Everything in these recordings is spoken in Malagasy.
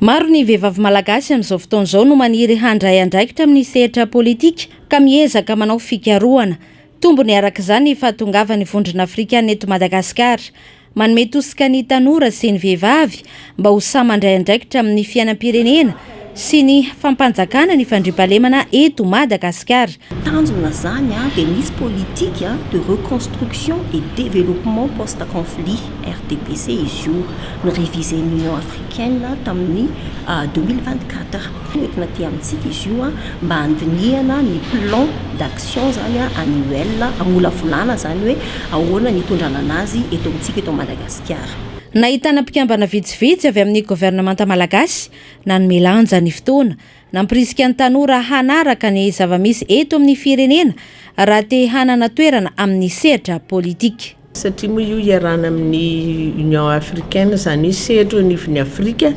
Maro ny vehivavy malagasy amin'izao fotoana izao no maniry handray andraikitra amin'ny sehatra politika ka miezaka manao fikarohana. Tombony araka izany ny fahatongavan'ny Vondrona Afrikana eto Madagasikara. Manome tosika ny tanora sy ny vehivavy mba ho sahy mandray andraikitra amin'ny fiainam-pirenena sy ny fampanjakana ny fandriampahalemana eto Madagasikara. Tanjona zany dia misy politique de reconstruction et développement post conflit, RDPC, izy io ni-reviser-n'ny Union africaine tamin'ny deux mille vingt-quatre. Hoentina aty amintsika izy io mba handinihana ny plan d'action zany annuel hamolavolana zany hoe ahoana ny hitondrana anazy eto amintsika eto Madagasikara. Nahitana mpikambana vitsivitsy avy amin'ny governemanta malagasy nanome lanja ny fotoana Nampirisika ny tanora hanaraka ny zava-misy eto amin'ny firenena raha te hanana toerana amin'ny sehatra politika. Satria moa io hiarahana amin'ny Union africaine izany hoe sehatra eo anivon'ny Afrika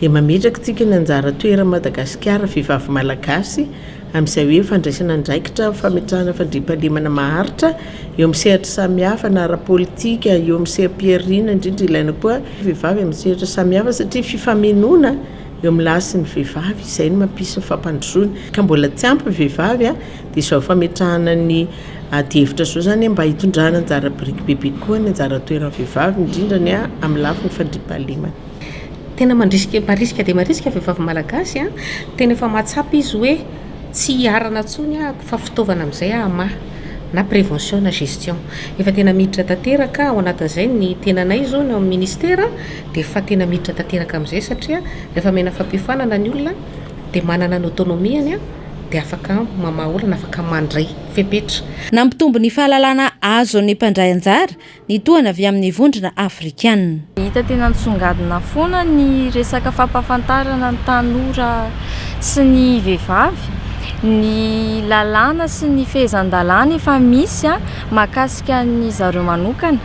dia mametraka antsika ny anjara toeran'i Madagasikara vehivavy malagasy amin'izay hoe fandraisana andraikitra fametrahana fandriampahalemana maharitra eo amin'ny sehatra samihafa na ara-politika eo amin'ny seha-pihariana indrindra ilaina koa vehivavy amin'ny sehatra samihafa satria fifamenoana Eo amin'ny lahy sy ny vehivavy, izay no mampisy ny fampandrosoana, ka mbola tsy ampy ny vehivavy dia izao fametrahana ny adihevitra izao izany mba hitondrana anjara biriky bebe kokoa ny anjara toeran'ny vehivavy, indrindra ny amin'ny lafiny fandriampahalemana. Tena mandrisika, marisika dia marisika vehivavy malagasy an! Tena efa mahatsapa izy hoe tsy hiharana intsony ahako fa fitaovana amin'izay hamaha na prévention na gestion. Efa tena miditra tanteraka ao anatin'izay ny tenanay izao ny ao amin'ny ministera. dia efa tena miditra tanteraka amin'izay satria rehefa omena fampiofanana ny olona dia manana ny autonomie-ny dia afaka mamaha olana, afaka mandray fepetra. Nampitombo ny fahalalana azon'ny mpandray anjara ny tohana avy amin'ny vondrona afrikana. Hita tena nisongadina foana ny resaka fampahafantarana ny tanora sy ny vehivavy ny lalàna sy ny fehezan-dalàna efa misy mahakasika ny zareo manokana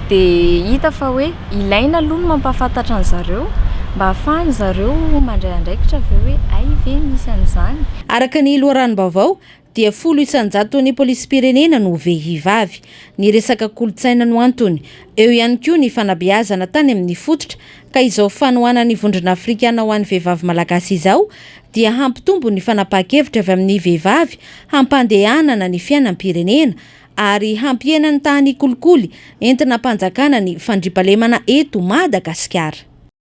dia hita fa hoe Ilaina aloha ny mampahafantatra an-dry zareo mba hahafahan-dry zareo mandray andraikitra avy eo hoe hay ve misy an'izany. Araka ny loharanom-baovao dia folo isan-jaton'ny polisim-pirenena no vehivavy. Ny resaka kolontsaina no antony. Eo ihany koa ny fanabeazana tany amin'ny fototra ka izao fanohanan'ny Vondrona Afrikana ho an'ny vehivavy malagasy izao dia hampitombo ny fanapahan-kevitra avy amin'ny vehivavy hampandehanana ny fiainam-pirenena ary hampihena ny tahan'ny kolikoly entina hampanjakana ny fandriampahalemana eto Madagasikara.